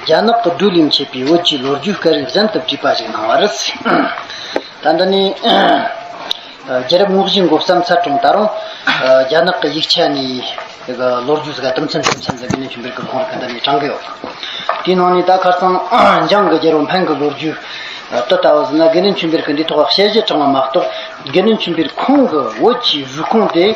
རྒྱ་ནག་གི་བགྲོ་གླེང་བྱས་པའི་བོད་ཀྱི་ལོ་རྒྱུས་སྐད་རིགས་གཟེངས་བསྟོད་བྲིས་པ་ཞིག་གནང་བ་རེད། ད་ལྟ་ནི་རྒྱལ་རབས་དངོས་གཞི་འགོ་བརྩམས་ཚར་གྲོངས་ད་རུང་རྒྱ་ནག་གི་ཡིག་ཆ་ནས་ལོ་རྒྱུས་ཟེར་ག་གཏུམ་ཚེམ་གཏུམ་ཚེམ་ཟེར་གི་ནས་ཆུ་འབེར་གྱི་ཁོང་རེ་ག་འདི་ནས་དྲངས་གི་ཡོད། དེའི་ནང་ནས་ད་ཁར་ཚང་འཇང་གི་རྒྱལ་བོ་འཕན་གྱི་ལོ་རྒྱུས་དུ་ལྟ་བ་ཟིན་ན་དགེ་ལེན་ཆུ་འབེར་གྱི་འདིའི་ཐོག་བཤད་གཞི་དྲངས་པ་མ་གཏོགས་དགེ་ལེན་ཆུ་འབེར་ཁོང་གི་བོད་ཀྱི་རུས་ཁུངས་དེ།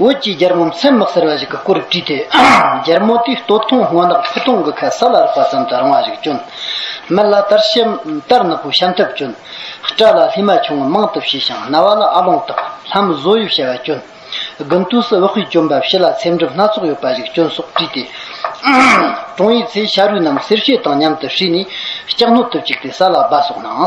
འོད་ཀྱིས་རྒྱལ་མོ་མཚན་མི་གསལ་བ་ཞིག་གི་སྐུ་རུ་བྲིས་ཏེ། རྒྱལ་མོ་དེའི་སྟོད་ཐུང་སྔོ་ནག་ཕུ་ཐུང་གི་ཁ་ས་ལ་རག་པ་ཙམ་དུ་རིང་བ་ཞིག་བྱོན། མི་ལ་དར་ཤམ་དར་ནག་པོའི་ཤམ་ཐབས་བྱོན། སྐྲ་ལ་ལྷས་མ་ཆུང་ངུ་མང་དུ་བྱས་ཤིང་རྣ་བ་ལ་ཨ་ལོང་དག་ལྷམ་བཟོ་ཡུ་བྱ་བ་བྱོན། དགུན་དུས་སུ་བག་ཧུའི་གྱོན་པ་བྱི་ལ་ཚེམ་གྲུབ་སྣ་ཚོགས་ཡོད་པ་ཞིག་བྱོན་སོགས་བྲིས་ཏེ། དྲུང་ཡིག་ཚེ་ཤ་རུས་རྣམས་གསེར་ཕྱེ་དང་མཉམ་དུ་བསྲེས་ནས་ལྕགས་སྣོད་དུ་བཅུག་སྟེ་ས་ལ་སྦ་སོགས་གནང།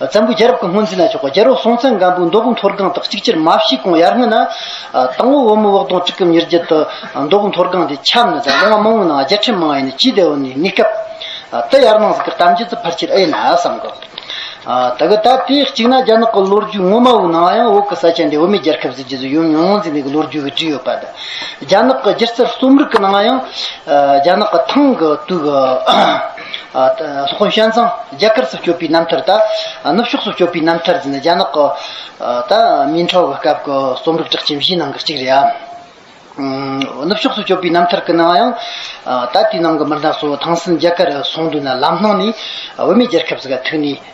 བཙན་པོའི་རྒྱལ་རབས་ཀྱི་སྔོན་ཚུད་ན་ཆོག་པ་རྒྱལ་རོང་སྲོང་བཙན་སྒམ་པོའི་མདོ་དགོང་མཐོ་སྒང་དག་གཅིག་ཅེར་མ་བྱིས་གོང་ཡར་སྔོན་ན། དང་བོ་བོད་མི་བོགས་དོང་གཅིག་གམ་ཉེར་བརྒྱད་དུ། མདོ་དགོང་མཐོ་སྒང་དེ་ཁྱབ་ནས་དང་ལོ་ང་མང་བོའི་ནང་རྒྱལ་ཕྲན་མང་བ་ཡིན་ནས་སྤྱིའི་སྡེ་བ་ནི་གནས་སྐབས། དེ་ཡར་སྣང་ཟིག་གི་གཏམ་རྒྱུད་དུ་ཕར་ཆེར་ཨེ་ཡིན་ན་བསམ་གོ། ད་གི་ད་དེ་གཅིག་ན་རྒྱ་ནག་གི་ལོ་རྒྱུས་ངོ་མ་བོའི་ནང་ཡང་བོད་ཀྱི་ས་ཆ་འདི་བོད་མིའི་རྒྱལ་ཁབ་ཟེར་གྱི་གཟིགས་ཡུམ་ཉོན་མོངས་འཛིན་ལྡན་གྱི་ལོ་རྒྱུས་ཀྱི་བྲིས་ཡོད་པ་དང། རྒྱ་ནག་གི་སྒྱུ་རྩལ་རྩོམ་རིག་གི་ནང་ཡང། རྒྱ་ནག་གི་ཐང་གི་དུས་ཀྱི། ཧོན་ཤན་ཚང་རྒྱ་གར་སོགས་སྐྱོད་པའི་རྣམ་ཐར་དང། ནུབ་ཕྱོགས་སོགས་སྐྱོད་པའི་རྣམ་ཐར་འདི་ནི་རྒྱ་ནག་གི་མིན་ཁྲའོ་གི་སྐབས་ཀྱི་རྩོམ་རིག་གྲགས་ཅན་བཞིའི་ནང་གི་གཅིག་རེད་ཨང། ནུབ་ཕྱོགས་སུ་སྐྱོད་པའི་རྣམ་ཐར་གྱི་ནང་ཡང། ད་ལྟའི་ནང་གི་མི་སྣ་སོགས་ཐང་སིན་རྒྱ་གར་སོང་དུས་ན་ལམ་སྣང་ནས་བོད་མི་རྒྱལ་ཁབ་ཟིག་ག་ཐུག་ནས།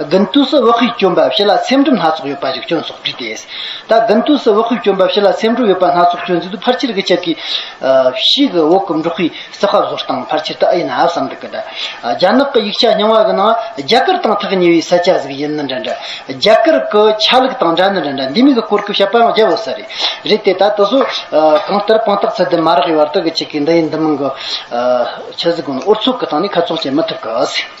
དགུན་དུས་སུ་བག་ཁུས་གྱོན་འབབ་བྱི་ལ་ཚེམ་དྲུབ་སྣ་ཚོགས་ཡོད་པ་ཞིག་གྱོན་ཆོག་དྲིས་ཏེ། ད་དགུན་དུས་སུ་བག་ཁུས་གྱོན་འབབ་བྱི་ལ་ཚེམ་དྲུབ་ཡོད་པ་སྣ་ཚོགས་གྱོན་ཚུལ་དུ་ཕར་ཆེར་གྱི་ཆབ་ཀྱི། ཕྱིས་ཀྱི་འོག་གི་འབྲོག་ཁུལ་ས་ཁ་བཟོ་སྟངས་ཕར་ཆེར་དུ་ཨེ་ཡིན་ཨ་བསམ་འདུག་གི། རྒྱ་ནག་གི་ཡིག་ཆ་རྙིང་བ་གི་ནང་རྒྱ་གར་དང་ཐག་ཉེ་བའི་ས་ཆ་ཟིག་ཡིན་ནི་འདྲ་འདྲ། རྒྱ་གར་གྱི་ཆ་ལུགས་དང་འདྲ་ནི་འདྲ་འདྲ་འདི་མིན་གྱི་གོ་སྐབས་ཤ་པའང་རྒྱབ་འོས་ས་རེད། རེད་དེ་ད་དེ་ཚོ། གང་ལྟར་དཔང་རྟགས་ཚད་ལྡན་མ་རག་ཡོད་བར་དུ་གི་ཆེ་གེ་འདི་ཡིན་འདི་མིན་གྱི། ཆ་ཟིག་གོ་ནི་ཨོ་ཚོགས་ཀྱི་སྟེང་ནས་ཁ་ཚོགས་བྱེད་མི་ཐུབ་གི།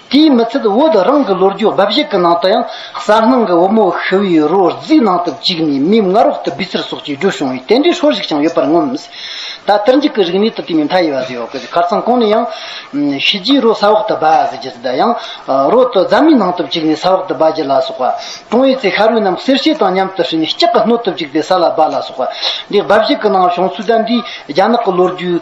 དེའི་མི་ཚད་བོད་རང་གི་ལོ་རྒྱུས་འབའ་ཞིག་གི་ནང་དུ་ཡང་གསར་སྣང་གི་བུ་མོ་ཤི་བོའི་རོ་རྫིས་ནང་དུ་བཅུག་ནས་མིའི་མངལ་རོགས་ཏུ་སྦི་ཚུལ་སོགས་ཀྱིས་བསྒྲུབས་བྱུང་བའི་རྟེན་འབྲེལ་ཧྲོལ་ཞིག་ཀྱང་ཡོད་པར་ངོམས། ད་ལྟར་འཇིག་གི་རིག་གནས་དང་བསྟུན་པའི་མཐའ་ཡས་བ་ཟེར་བ་ཀུན་གར་ཚང་ཁོང་ནས་ཡང། ཤི་རྗེས་རོ་ས་འོག་ཏུ་སྦ་ཟེར་རྒྱུ་དེ་དག་ཡང། རོ་དུ་རྫ་མའི་ནང་དུ་བཅུག་ནས་ས་འོག་ཏུ་སྦ་རྒྱུ་ལ་སོགས་པ། ཀྲོང་ཡེ་ཚེ་ཤ་རུས་རྣམས་གསེར་ཕྱེ་དང་མཉམ་དུ་བསྲེས་ནས་ལྕགས་ཀྱི་སྣོད་དུ་བཅུག་སྟེ་ས་ལ་སྦ་ལ་སོགས་པ། འདི་འབའ་ཞིག་གི་ནང་བྱུང་ཚུལ་ལྟར་འདིས་རྒྱ་ནག་གི་ལོ་རྒྱུས།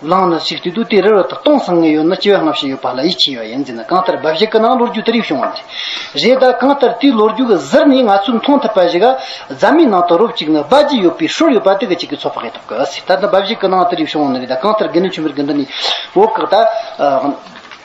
བླངས་ན་ཞིག་དུས་དུས་དེ་རིར་ད་སྟོང་སང་ངེ་ཡོད་ན་སྐྱེ་བ་སྔ་ཕྱི་ཡོད་པ་ལ་ཡིད་ཆེས་ཡོད་ཡིན་ཟེར་ན་གང་ལྟར་འབའ་ཞིག་གི་ནང་ལོ་རྒྱུས་དེ་རིགས་བྱུང་བ་རེད། རེད་ད་གང་ལྟར་དེའི་ལོ་རྒྱུས་ཀྱི་ཟུར་ནས་ང་ཚོས་མཐོང་ཐུབ་པ་ཞིག་རྫ་མའི་ནང་དུ་རོབ་ཅིག་ན་སྦ་རྗེས་ཡོད་པའི་ཧྲུལ་ཡོད་པ་དེ་གི་གཅིག་གི་ཚོ་ཕག་ཡོད་ཐུབ་གི་ཟེར་ད་ད་འབའ་ཞིག་གི་ནང་དེ་རིགས་བྱུང་བ་ནི་རེད་ད་གང་ལྟར་དགེ་འདུན་ཆོས་འཕེལ་གྱི་འདི་ནས་འོ་སྐག་ད།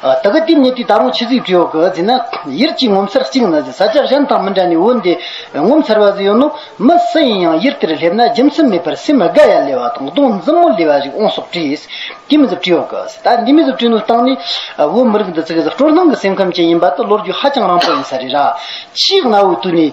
ད་གི་ཏིང་ངེ་འདི་ད་རུང་ཕྱི་གཟིགས་བྲིའོ་གི་ཟིན་ན། ཡིད་ཀྱིས་ངོ་མཚར་གཅིག་ན་ཟིན་ས་ཆ་གཞན་དང་མི་འདྲ་ནས་འོན་ཏེ། ངོ་མཚར་བ་ཟིན་ཡོད་ནོ། མི་སུ་ཡིན་ཡང་ཡིད་དེར་སླེབས་ན་རྒྱུ་མཚན་མེད་པར་སེམས་དགའ་ཡ་ལེ་བ་དང་གདོང་འཛུམ་མོ་ལེ་བ་ཞིག་འོང་སོགས་བྲིས། ཏིང་མི་ཟིག་བྲིའོ་གི་ཟིན་ད་ནི་མི་ཟིག་བྲིས་ནོ་སྟངས་ནི། བོད་མི་རིགས་འདི་ཙི་གི་ཟིག་སྤྲོ་སྣང་གི་སེམས་ཁམས་ཅན་ཡིན་པ་དེ་བློ་རྒྱུས་ཧ་ཅང་རང་པོ་ཡིན་ས་རེད་ར། ཕྱིའི་གནའ་བོའི་དུས་ནས།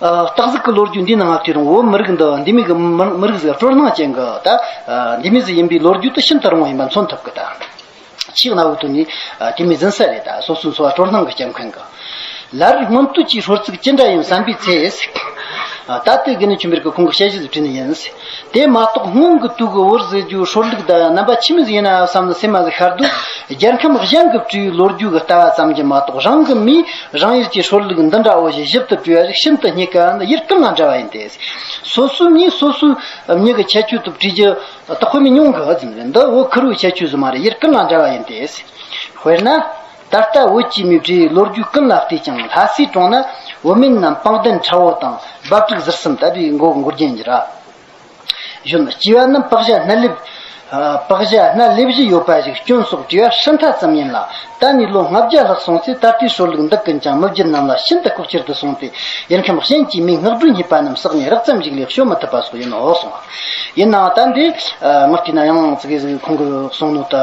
སྟག་གཟིག་གི་ལོ་རྒྱུས་འདི་ནང་ང་དུས་རིང་བོ་མི་རིགས་འདི་འདི་མི་གི་མི་རིགས་ཟིག་སྤྲོར་སྣང་ཅན་གི་ད་འདི་མི་ཟིག་ཡིན་པའི་ལོ་རྒྱུས་དེ་ཤིན་ཏུ་རིང་བ་ཡིན་པ་མཚོན་ཐུབ་གི་ད་ཕྱིས་གནའ་བོའི་དུས་ནས་དེ་མི་ཟིན་ས་རེད་ད་སོ་སོའི་འཚོ་བ་སྤྲོར་སྣང་གི་སྐྱབས་མཁན་གི་ལར་སྔོན་དུས་ཀྱི་ཧྲོལ་ཚིག་ཅི་འདྲ་ཡིན་བསམ་པའི་ཚེ་ད་ལྟའི་གི་ནི་ཆུ་མེར་གི་ཁོང་གི་དཔྱད་གཞི་ཟིག་བྲིས་ནི་ཡིན། དེ་མ་གཏོགས་སྔོན་གྱི་དུས་ཀྱི་བོར་ཟས་རྒྱུའི་ཧྲོར་ལུག་ཟླ་བའི་རྣམ་པ་ཕྱི་མི་ཟ་ཡིན་ནའང་བསམ་ནས་སེམས་མ་ཟ་ཤར་དུས་རྒྱལ་ཁམས་གཞན་གྱི་སྤྲེའུའི་ལོ་རྒྱུས་ཀྱི་ལྟ་བ་ཙམ་གྱིས་མ་གཏོགས་རང་གི་མིས་རང་ཡུལ་གྱི་ཧྲོར་ལུག་འདི་འདྲ་འོ་བཞིན་ཞིབ་ཏུ་བཀྲུས་པ་རིགས་ཤིན་ཏུ་སྙི་ག་འདི་ཡུལ་སྤྲིན་དང་འདྲ་བ་ཡིན་ཏེ། སོ་སོའི་མིས་སོ་སོའི་མྱིག་གི་ཁྱད་ཆོས་ཐོབ་བྲིས་ཀྱི་ཏོག་དཔེ་མི་ཉུང་གི་འོ་རྫིང་རེད་འདི་འོ་ཁུ་རུའི་ཁྱད་ཆོས་སུ་མ་རེད་ཡུལ་སྤྲིན་དང་འདྲ་བ་ཡིན་ཏེ། དཔེར་ན། ད་ལྟ་བོད་སྤྱི་མོས་བྲེ་ཡི་ལོ་རྒྱུས་ཀུན་ལ་བལྟས་ཀྱང་ལྷ་སའི་གྲོང་ན་བོད་མི་རྣམས་སྤང་གདན་ཁྲ་བོ་དང་འབབ་ཕྲུག་ཟུར་གསུམ་དད་པའི་མགོ་སྒུར་རྒྱན་གྱི་ར་གཞོན་སྐྱེས་པ་རྣམས་པགས་ཞྭ་སྣ་ལེབ། པགས་ཞྭ་སྣ་ལེབ་བཞི་ཡོད་པ་ཞིག་སྐྱོན་སོགས་དྲི་བ་ཧྲིལ་མཐའ་ཙམ་ཡིན་ལ། ད་ནི་ལོ་ལྔ་བརྒྱ་ལྷག་སོང་ཚེ་ད་ལྟའི་ཧྲོལ་ལུགས་འདི་ཀུན་ཀྱང་མི་བརྒྱུད་རྣམས་ལ་ཤིན་ཏུ་ལྐོག་གྱུར་དུ་སོང་སྟེ་ཡུལ་ཁམས་གཞན་གྱི་མིང་སྔགས་སྒྲུང་རྙེད་པ་རྣམས་བསགས་ནས་རགས་ཙམ་ཞིག་ལས་བཤོལ་མི་ཐུབ་པ་སོགས་ཡིན་ནོ་གསུངས། ཡིན་ནའང་ད་འདི་སྔགས་ཀྱི་ན་ཡང་ཙི་གི་གོང་གི་གསུང་ནོར་དུ།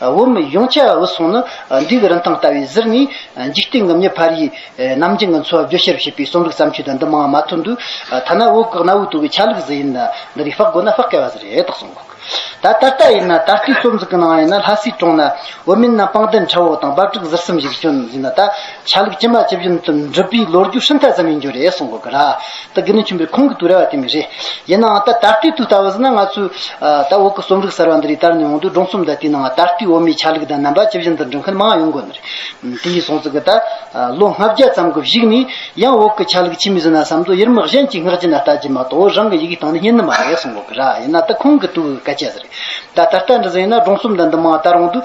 འོ་མི་གཞུང་ཆ་འོད་སྲུང་ནི་འབྲས་བུ་རིན་ཐང་ལྟ་བུའི་གཟིར་ནས་འཇིག་རྟེན་གྱི་མྱི་ཕར་ཡིས་ནམ་རྒྱུན་གྱི་འཚོ་བ་བརྗོད་ཤེས་རབ་ཤེས་པའི་གསུང་ལུགས་བརྩམས་ཆོས་དང་འདི་མང་བ་མ་ཐོན་དུས་ཐ་ན་འོད་དཀར་གནའ་བོའི་དུ་བའི་ཆ་ལུགས་གཟི་ཡིན་ལ་འདི་རིགས་དཔག་དགོས་ན་དཔག་དཀའི་བ་གཟི་རེད་དག་གསུང་ད་ད་ལྟ་ཡིན་ན་ད་ལྟའི་རྩོམ་གཟི་གི་ནང་ཡིན་ན་ལྷ་སའི་གྲོང་ན་འོ་མིན་ན་སྤང་ལྡན་ཁྲ་བོ་དང་འབབ་ཕྲུག་གཟིར་གསུམ་ཞིག་བྱོན་ཟིན་ན་ད་ཆ་ལུགས་ཅི་མ་ཅི་བཞིན་དུ་འགྲུབ་པའི་ལོ་རྒྱུས་ཧྲིལ་ཐག་ཙམ་ཡིན་རྒྱུ་རེད་གསུངས་དགོས་གི་ར། ད་དགེ་འདུན་ཆེན་པོའི་ཁོང་གི་དུས་ར་བ་དེ་མི་རེད། ཡིན་ནའང་ད་ད་ལྟའི་དུས་ལྟ་བུ་ཟིན་ན་ང་ཚོས། ད་འོག་གི་རྩོམ་རིག་གསར་བ་འདི་རིགས་དར་ནས་འོང་དུས་སྒྲུང་རྩོམ་དང་དེའི་ནང་ད་ལྟའི་འོ་མའི་ཆ་ལུགས་དང་རྣམ་པ་ཇི་བཞིན་དུ་འབྲི་མཁན་མང་ཡོང་དགོས་ནི་རེད། དེ་ཡིན་སོང་ཙི་གི་ད། ལོ་ལྔ་བརྒྱ་ཙམ་གི་བཞུགས་ནས། ཡང་འོག་གི་ཆ་ལུགས་ཕྱི་མི་ཟིན་ན་བསམ་དོ་ཡུལ་དམག་གཞན་གྱིས་སྔགས་ཅི་ན་ལྟ་ཅི་མ་གཏོགས་རང་གི་ཡི་གེའི་སྟེང་ནས་རྙེད་ནི་མ་རེད་གསུངས་དགོས་གི་ར། ཡིན་ན་ད་ཁོང་གི་དུས་བཀའ་ཆད་ཟེར། ད་ད་ལྟ་འདི་ཟིན་ཡིན་ན་སྒྲུང་རྩོམ་དང་འདི་མང་དར་འོང་དུས།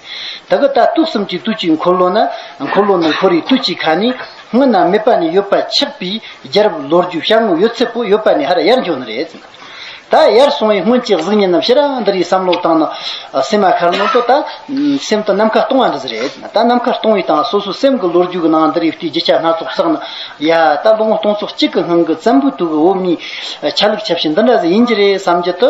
ད་གི་ལྟ་སྟུག་གསུམ་གྱི་བཏུད་ཀྱི་འཁོར་ལོ་ན། འཁོར་ལོ་ནི་འཁོར་བའི་བཏུད་ཀྱི་ཁ་ནི། སྔོན་ན་མེད་པ་ནས་ཡོད་པར་ཆགས་པའི་རྒྱལ་རབས་ལོ་རྒྱུས་ཤར་ངོ་ཡོད་ཚད་པོ་ཡོད་པ་ནས་ཧར་ཡར་འབྱོར་ནི་རེད། ད་ཡར་སོང་བའི་སྔོན་གྱི་གཟུགས་བརྙན་རྣམས་ཤི་རང་འདི་རིགས་བསམ་བློ་བཏང་ན། སེམས་མ་ཁར་ནོར་དོ་ད། སེམས་དང་ནམ་མཁའ་སྟོང་བ་འདི་ཟེར་རེད། ད་ནམ་མཁར་སྟོང་བའི་སྟངས་སོ་སོའི་སེམས་ཀྱི་ལོ་རྒྱུས་ཀྱི་ནང་འདི་རིགས་བལྟས་རྒྱུ་ཆ་སྣ་ཚོགས་བསགས་ན། ཡ། ད་ལོ་ངོ་སྟོང་ཚོ་གཅིག་གི་སྔོན་གྱི་བཙན་པོའི་དུས་ཀྱི་འོག་མའི། ཆ་ལུགས་ཆ་བྱད་འདི་འདྲ་ཟིག་ཡིན་གྱི་རེད་བསམ་རྒྱུ་དུ།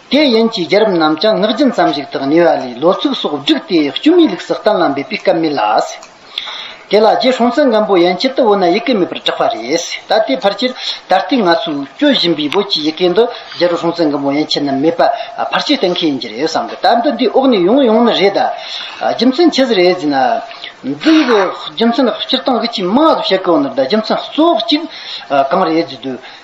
དེ་ཡན་གྱི་རྒྱལ་རབས་རྣམས་ཀྱང་ངག་རྒྱུན་ཙམ་ཞིག་དག་ཉེ་བ་ལས་ལོ་ཚིགས་སོགས་བསྒྲིགས་ཏེ་སྐྱུ་མི་ལུགས་སུ་གཏན་ལ་འབེབས་པའི་སྐབས་མེད་ལ། དེ་ལ་རྗེ་གྲོང་ཚོའི་མགོན་པོ་ཡན་གྱིས་ཏི་བོ་ན་ཡི་གེ་མེད་པར་བསྒྲགས་པ་རེད། ད་ལྟའི་བར་ཆད་ད་ལྟའི་ང་ཚོས་སྐྱོད་བཞིན་པའི་བོད་ཀྱི་ཡི་གེ་འདི་རྒྱལ་རོང་གྲོང་ཚོའི་མགོན་པོ་ཡན་གྱིས་ནི་མེད་པར་བར་ཆད་གཏན་འཁེལ་ཡིན་གྱི་རེད་བསམ་གི་ད་འདི་འདིའི་འོག་ནས་ཡོང་ཡོང་ནི་རེད། རྒྱུ་མཚན་ཇི་ཟེར་རེད་ཟེར་ན། འདི་ཡི་རྒྱུ་མཚན་སྤྱིར་བཏང་གི་ཆེས་མང་དུ་བཤད་དགོས་ན་རྒྱུ་མཚན་གཙོ་བོ་གཅིག་གང་རེད་ཟེར་དུས་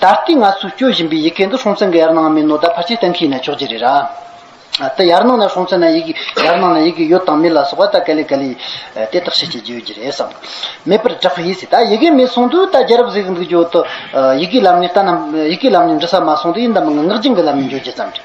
ད་ལྟའི་ང་ཚོས་སྐྱོད་བཞིན་པའི་ཡི་གེ་འདི་སྲོང་བཙན་གྱི་ཡར་སྣང་མིན་ནོ་ད་ཕར་ཆེར་བསྟན་གྱི་ཡིན་ན་ཆོག་གྱི་རེད། ད་ཡར་སྣང་ན་སྲོང་བཙན་ན་ཡི་གེ་ཡར་སྣང་ན་ཡི་གེ་ཡོད་དང་མེད་ལ་སོགས་པ་ད་ག་ལེ་ག་ལེ་དེ་བརྟག་དཔྱད་བྱེད་ཀྱི་ཡོད་ཀྱི་རེད་བསམ། མེད་པར་བསྒྲགས་པ་ཡིན་སྲིད་ད་ཡི་གེ་མེད་གསུང་དུས་ད་རྒྱལ་རབས་ཟེར་གྱི་འདུག་ཀྱོ་ཡི་གེའི་ལམ་ནས་ལྟ་ན་ཡི་གེའི་ལམ་ནས་འབྲི་ས་མ་སོང་དུས་ཡིན་དང་མིན་ངག་རྒྱུན་གྱི་ལམ་ནས་འབྱོར་རྒྱུ་ཙམ་རེད།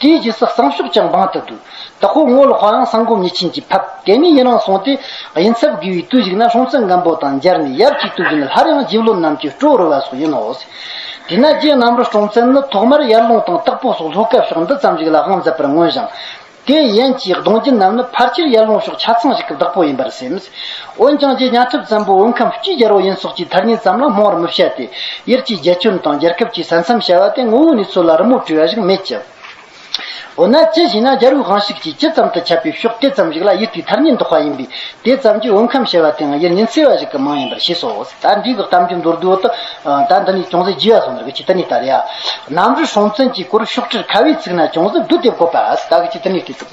དེའི་རྗེས་སུ་བསང་ཤོག་ཀྱང་འབངས་དུ་བསྡུ། ད་ཁོ་སྔོ་ལོ་ཧོའང་བསང་སྒོམ་ཉེས་ཆིངས་ཀྱིས་ཕབ། དེ་མིན་ཡི་རངས་སོང་སྟེ། ཡིན་ཚབ་དགེ་བའི་བརྟུལ་ཞུགས་ན་ལྷུང་བཟེད་མགན་པོ་དང་སྦྱར་ནས་ཡབ་ཅིག་ཏུ་བཞུགས་ནས་སླར་ཡང་རྗེ་བློན་རྣམས་ཀྱི་སྤྲོ་བར་བ་སོགས་ཡིན་ནོ། དེས་ན་རྗེ་གནམ་རུ་སྐྲོང་བཙན་ནི་ཐོག་མར་ཡར་ལུང་དང་སྟག་ཕོ་སོགས་ལྷོ་སྐལ་ཕྱོགས་འདི་ཙམ་ཞིག་ལ་དབང་མཛད་པར་མངོན་ཞིང། དེའི་ཡན་གྱི་གདུང་རྒྱུད་རྣམས་ནི་ཕར་ཆེར་ཡར་ལུང་ཕྱོགས་ཆ་ཚང་ཞིག་གི་བདག་པོ་ཡིན་པར་སེམས། འོན་ཀྱང་རྗེ་གཉའ་ཐུབ་བཙན་པོ་འོས་ཁམས་སྤྱིའི་རྒྱལ་པོ་ཡིན་སོགས་ཀྱི་ཐ་སྙད་ཙམ་ལ་སྨོན་བར་མི་བྱ་སྟེ། དབྱར་གྱི་རྒྱལ་ཁྱོན་དང་རྒྱལ་ཁབ་ཀྱི་ས་མཚམས་བྱ་བ་དེ་ངོ་བོའི་ནུས་ཚོད་ལ་རི་མོ་བྲིས་པ་ཞིག་མེད་ཀྱང། འོ་ན་ཅི་ཞེ་ན་རྒྱལ་པོའི་དབང་ཤུགས་ཀྱིས་ཇི་ཙམ་དུ་ཁྱབ་པའི་ཕྱོགས་དེ་ཙམ་ཞིག་ལ་དབྱིར་ཐིག་ཐར་སྙེད་འདོགས་པ་ཡིན་པས་དེ་ཙམ་གྱིས་འོས་ཁམས་བྱ་བ་དེའང་དབྱིར་ཉིན་བསྲེ་བ་ཞིག་གི་མིང་ཡིན་པར་ཤེས་སོ། ད་འདི་གི་གཏམ་རྒྱུད་མདོར་བསྡུས་འོག་ཏུ། ད་འདི་ནས་ཅུང་ཟད་བརྗིད་བར་སོང་བར་གྱི་ཏི་ནི་ཏཱ་རི་ཡ། གནམ་རི་སྲོང་བཙན་གྱི་སྐོར་ཤོག་ཁྲིར་ཁ་བའི་ཚིག་ན་ཅུང་ཟད་བསྡུས་ཏེ་བཀོད་པ། ད་གི་ཏི་ནི་ཏཱི་ཚིག།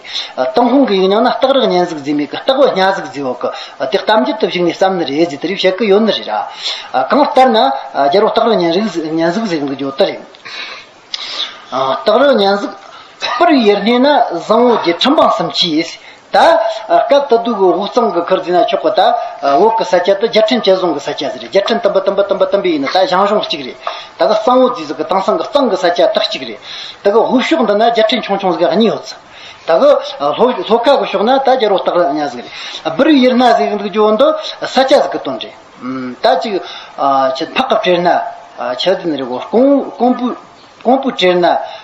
སྟོང་ལྷུང་གི་ཡིག་རྙིང་ན་སྟག་རག་གཉན་གཟིགས་འཛིན་མེད་གི་སྟག་བོ་གཉའ་གཟིགས་འཛིན་འོག་གི་དེ་གཏམ་རྒྱུད་དུ་བཞུགས་ནས་བསམ་ནི་རེད་ཟེར་དུས་རིག་བཤད་ཀི་ཡོད་ནི་རེད་ར། གང་ལྟར་ན། རྒྱལ་པོ་སྟག་རག་གཉན་རིགས་གཉན་གཟིགས་ཟེར་མཁན་གི་ཇོ་ཏི་རེད། སྟག་རག་གཉན་གཟིགས། པར་བའི་ཡར་སྣེ་ན་བཟང་བོ་རྒྱལ་ཁྲིམས་འབངས་སམ་གྱིས། ད། སྐབས་ད་དུ་གི་འུག་གཙང་གི་ཁུར་འཛིན་ན་ཆོག་གི་ད། འོག་གི་ས་སྐྱ་དུ་རྒྱལ་ཁྲིམས་བཅད་བཟུང་གི་ས་སྐྱ་ཟེར་རེད་རྒྱལ་ཁྲིམས་དམ་པ་དམ་པ་དམ་པ་དམ་པའི་ཡིན་ན་ད་ཞང་ཞུང་གཅིག་རེད། ད་གི་གཙང་བོ་རྫིས་ཟི་གི་དྭངས་སང་གི་གཙང་གི་ས་སྐྱ་ལྟག་གཅིག་རེད། ད་གི་ཧུབ་ཤོག་འདི་ན་རྒྱ་ཁྲི་ཆུང་ཆུང་ཟི་ག་གཉིས་ཡོད། ད་གི་ལྷོ་ཁ་གི་ཤོག་ན་ད་རྒྱ་རོ་སྟག་ར་གཉའ་ཟི་ག་རེད། སྦིར་ཡིར་ན་ཟི་གི་འདུག་རྒྱུ་བོ་འདི་ས་སྐྱ་ཟི་གི་དོན་རེད། ད་ཅིག་ཕག་གི་བྲེར་ན་ཆ་ཟི་ནི་རེད་གོ་ཀོང་པུའི་བྲེར་ན།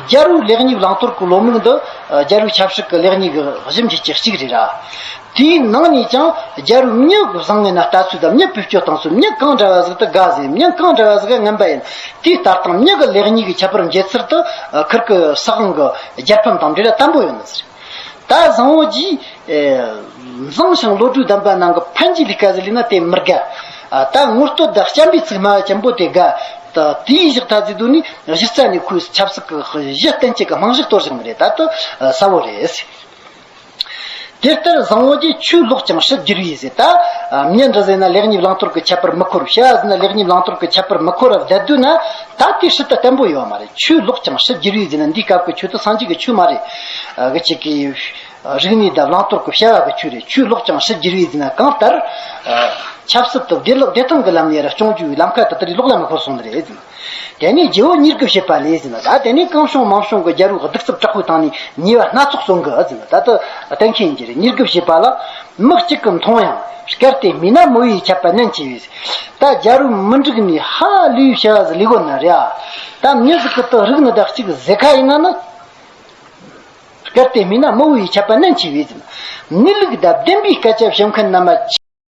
རྒྱལ་རོང་ལེགས་ཉིབ་རླངས་འཁོར་གྱི་ལོ་མིག་འདི་རྒྱལ་རོང་ཆབ་སྲིད་ཀྱི་ལེགས་ཉིབ་གྱི་གཞི་འཇིག་ཅན་གཅིག་རེད། དེའི་ནང་ནས་ཀྱང་རྒྱལ་རོང་མྱི་བཟང་ངན་ན་ལྟ་ཚུལ་དང་མྱི་བེད་སྤྱོད་སྟངས་སོགས་མྱི་གང་འདྲ་བ་ཟིག་དེ་དགའ་ཟིན་མྱི་གང་འདྲ་བ་ཟིག་ཡང་ངན་པ་ཡིན། དེའི་ལྟར་སྟངས་མྱི་གི་ལེགས་ཉིས་ཀྱི་ཁྱད་པར་འབྱེད་ཚུལ་དུ་ཁུར་ཀྱི་སྲིད་དབང་གི་རྒྱལ་ཕམ་དང་འབྲེལ་བ་དམ་པོ་ཡོད། ད་བཟང་བོ་གྱིས། མཛངས་ཤིང་བློ་གྲོས་ལྡན་པ་ནང་གི་ཕན་གྱི་ལི་ཀ་ཟི་ལི་ན་དེ་མི་དགའ། ད་ངུ་སྟོད་བདག་སྐྱམ་པའི་ཚིག་སྨྲ་བ་ཅན་པོ་དེ་དགའ། དེའི་གཞི་ཐ་ཙི་དུ་ནི་གཞི་རྩ་ནས་ཁོས་ཆབ་སྲིད་ཀྱི་གཞི་རྟེན་བཅས་ཀྱི་རྨང་གཞི་གཏོར་བཞིན་པ་རེད་ད་དུ་གསལ་བོ་རེད། དེ་ལྟར་བཟང་བོ་གྱིས་ཆོས་ལོག་ཀྱང་ཕྱི་བསྒྱུར་ཡིན་ཟེར། ད་ཉིན་རེ་ཟིན་ན་ལེགས་ཉེས་བླང་དོར་གྱི་ཁྱད་པར་མི་ཁོར། ཤ་ཟིན་ན་ལེགས་ཉེས་བླང་དོར་གྱི་ཁྱད་པར་མི་ཁོ་ར་བསྡད་དུས་ན། ད་དུས་ཤིད་ད་བརྟན་པོ་ཡོད་མ་རེད་ཆུ་ལོག་ཀྱང་ཤིད་རྒྱུ་རིག་ཟིན་ན་འདི་སྐབས་ཀྱི་ཆུ་ད་སངས་རྒྱས་ཀྱི་ཆུ་མ་རེད། གི་ཆེ་གི། རིག་གནས་དང་བླང་དོར་གི་བཤད་བ་གི་ཆུ་རེད་ཆུ་ལོག་ཀྱང་ཤིད་རྒྱུ་རིག་ཟིན་ན་གང་ལྟར། ཆབ་སྲིད་དུ་བདེ་ལོག་བདེ་ཐང་གི་ལམ་ནས་ར་སྐྱོང་རྒྱུའི་ལམ་ཁ་ད་ལྟ་རི་ལོག་ལ་མི་འཁོར་སོང་ནི་རེད། དེ་ནས་རྗེ་བོ་གཉིས་སྐུ་བཞེས་པ་ལས་ཟིན་ན་ད་དེ་ནས་གང་བྱུང་མང་བྱུང་གི་རྒྱལ་རོགས་སྡིག་རྩུབ་དྲག་པོའི་ཐང་ནས་ཉེས་བ་སྣ་ཚོགས་གསུང་གི་ཟིན་ན་ད་ད་གཏན་འཁེལ་གྱི་རེད་གཉིས་སྐུ་བཞེས་པ་ལ། མི་གཅིག་གི་མཐོང་ཡང་སྐལ་ཏེ་མི་ན་མོ་ཡིས་ཁྱབ་པ་ནན་ཆེ་བས། ད་རྒྱ་རུ་མི་འགྲིག་ནི་ཧ་ལུའི་བྱ་བ་ཟི་ལི་གོ་ནི་རེད་ད་མྱི་ཟི་ཀི་ཏོ་རིག་ནི་ད་གཅིག་གཟེ་ཁ་ཡིན་ན་ནི་གལ་ཏེ་མིན་ན་མི་བུའི་ཁྱབ་པ་ནན་ཆེ་བས་ཟི་ལི་གི་ད་བདེན་པའི་སྐད་ཆ་བཤད་མཁན་རྣམས